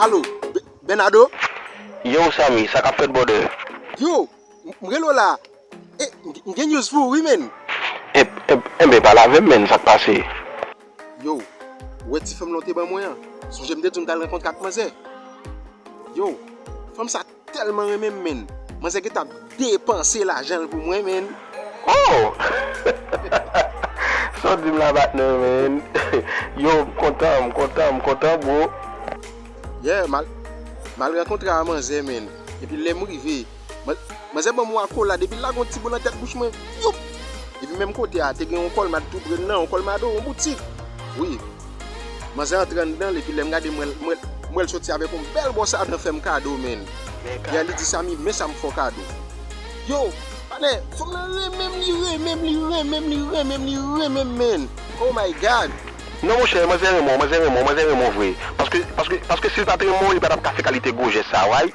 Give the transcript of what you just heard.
Alo, Bernardo? Yow Samy, sa kap fèt brother? Yow, m rele w la a. E, m gen news pou ou wi menn. Enben pale avè m menn, sa k pase? Yow, ou wè ti fanm lan w te ban mwen an? Sonje m te di w m t al rankontre ak manzè? Yow, fanm sa. Telman renmenm menn. Manzè gentan ap depanse lajanl pou mwen menn. Ooh! Sa w di m la patnè menn. Yow m kontan m kontan m kontan bro. Yeah mal Mal rankontre a manzè menn epi lèm rive manzè banm yon akolad epi lage yon ti bo nan tèt bouch mwen youp epi menm kote a te gen yon kolmad tou prel nan yon kolmado yon boutik wi. Manzè antre anndanl epi lèm gade mwen mwen wèl soti avèk yon bèl bòs a dan fèm kado menn yè li di Samy men sam fèw kado yow panè fanm nan renmenm li renmenm li renmenm li renmenm li renmenm menn oh my God. Non monchè manzè renmen w manzè renmen w manzè renmen w vre paske paske paske sil pat renmen w li patap ka fè kalite gwo jès sa right.